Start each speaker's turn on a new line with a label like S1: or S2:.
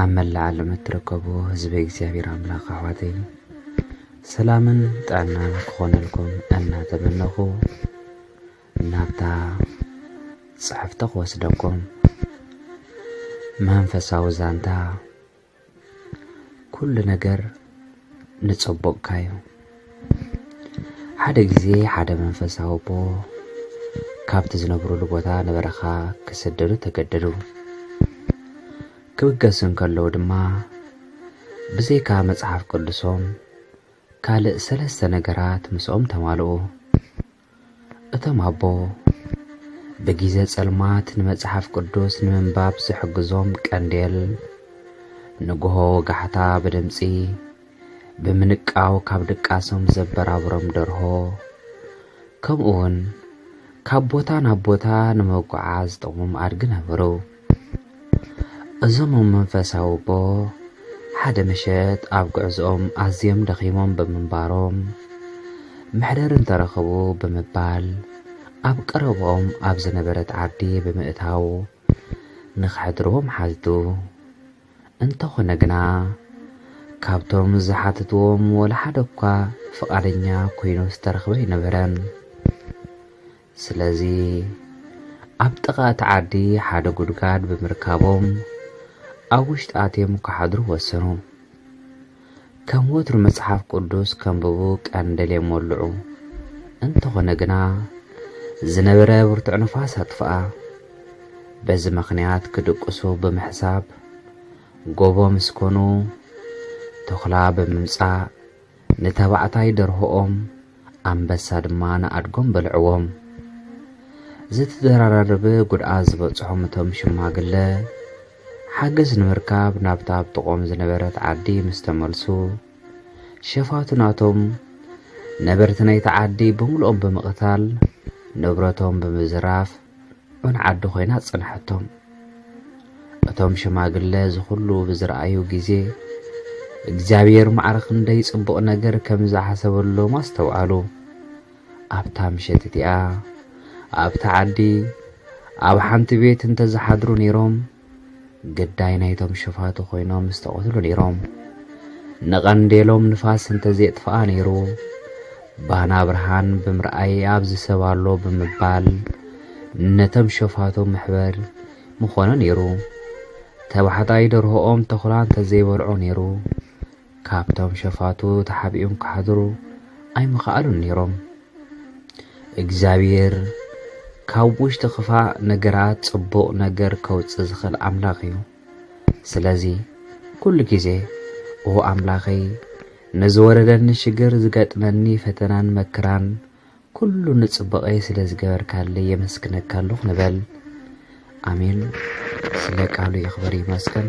S1: ኣብ መላእ ዓለም እትርከቡ ህዝቢ እግዚኣብሔር ኣምላኽ ኣሕዋተይ ሰላምን ጥዕናን ክኾነልኩም እናተመነኹ ናብታ ጽሕፍቲ ክወስደኩም መንፈሳዊ ዛንታ ኩሉ ነገር ንጸቦቕካዩ ሓደ ግዜ ሓደ መንፈሳዊ ኣቦ ካብቲ ዝነብሩሉ ቦታ ንበረኻ ክስደዱ ተገደዱ ክብገሱ እንከለዉ ድማ ብዘይካ መጽሓፍ ቅዱሶም ካልእ ሰለስተ ነገራት ምስኦም ተማልኡ እቶም ኣቦ፣ ብጊዘ ጸልማት ንመጽሓፍ ቅዱስ ንምንባብ ዝሕግዞም ቀንዴል፣ ንግሆ ወጋሕታ ብድምጺ ብምንቃው ካብ ድቃሶም ዘበራብሮም ደርሆ፣ ከምኡውን ካብ ቦታ ናብ ቦታ ንምጉዓዝ ዝጠቕሞም ኣድጊ ነበሩ። እዞም እም መንፈሳዊ ኣቦ ሓደ ምሸት ኣብ ጉዕዝኦም ኣዝዮም ደኺሞም ብምንባሮም መሕደሪ እንተረኸቡ ብምባል ኣብ ቀረብኦም ኣብ ዝነበረት ዓዲ ብምእታው ንኸሕድርዎም ሓትቱ። እንተኾነ ግና ካብቶም ዝሓተትዎም ወላ ሓደ እኳ ፍቓደኛ ኮይኑ ዝተረኽበ ኣይነበረን። ስለዚ ኣብ ጥቓ እቲ ዓዲ ሓደ ጉድጋድ ብምርካቦም ኣብ ውሽጢ ኣትዮም ክሓድሩ ወሰኑ። ከም ወትሩ መጽሓፍ ቅዱስ ከንብቡ ቀን ደልዮም ወልዑ። እንተኾነ ግና ዝነበረ ብርቱዕ ንፋስ ኣጥፍኣ። በዚ ምኽንያት ክድቅሱ ብምሕሳብ ጎቦ ምስ ኮኑ ተኹላ ብምምጻእ ንተባዕታይ ደርሆኦም ኣንበሳ ድማ ንኣድጎም በልዕዎም። ዝተደራረበ ጉድኣት ዝበፅሖም እቶም ሽማግለ ሓገዝ ንምርካብ ናብታ ኣብ ጥቕኦም ዝነበረት ዓዲ ምስ ተመልሱ ሸፋቱ ናቶም ነበርቲ ናይቲ ዓዲ ብምልኦም ብምቕታል ንብረቶም ብምዝራፍ ን ዓዲ ኮይና ጽንሐቶም እቶም ሽማግለ እዚ ኩሉ ብዝረኣዩ ግዜ እግዚኣብሔር ማዕረ ክንደይ ጽቡቕ ነገር ከም ዝሓሰበሎም ኣስተውዓሉ ኣብታ ምሸት እቲኣ ኣብታ ዓዲ ኣብ ሓንቲ ቤት እንተ ዝሓድሩ ነይሮም ግዳይ ናይቶም ሽፋቱ ኮይኖም ዝተቐትሉ ነይሮም። ንቐንዴሎም ንፋስ እንተዘየጥፍኣ ነይሩ ባና ብርሃን ብምርኣይ ኣብዚ ሰብ ኣሎ ብምባል ነቶም ሸፋቱ ምሕበር ምኾነ ነይሩ። ተባሕታይ ደርሆኦም ተኹላ እንተዘይበልዖ ነይሩ ካብቶም ሸፋቱ ተሓቢኦም ክሓድሩ ኣይምኸኣሉን ነይሮም። እግዚኣብሄር ካብ ውሽጢ ክፋእ ነገራት ጽቡቕ ነገር ከውጽእ ዝኽእል ኣምላኽ እዩ። ስለዚ ኩሉ ግዜ ኦ ኣምላኸይ ንዝወረደኒ ሽግር ዝገጥመኒ ፈተናን መክራን ኩሉ ንጽቡቐይ ስለ ዝገበርካለይ የመስግነካ ኣለኹ ንበል። ኣሜን። ስለ ቃሉ ይኽበር ይመስገን።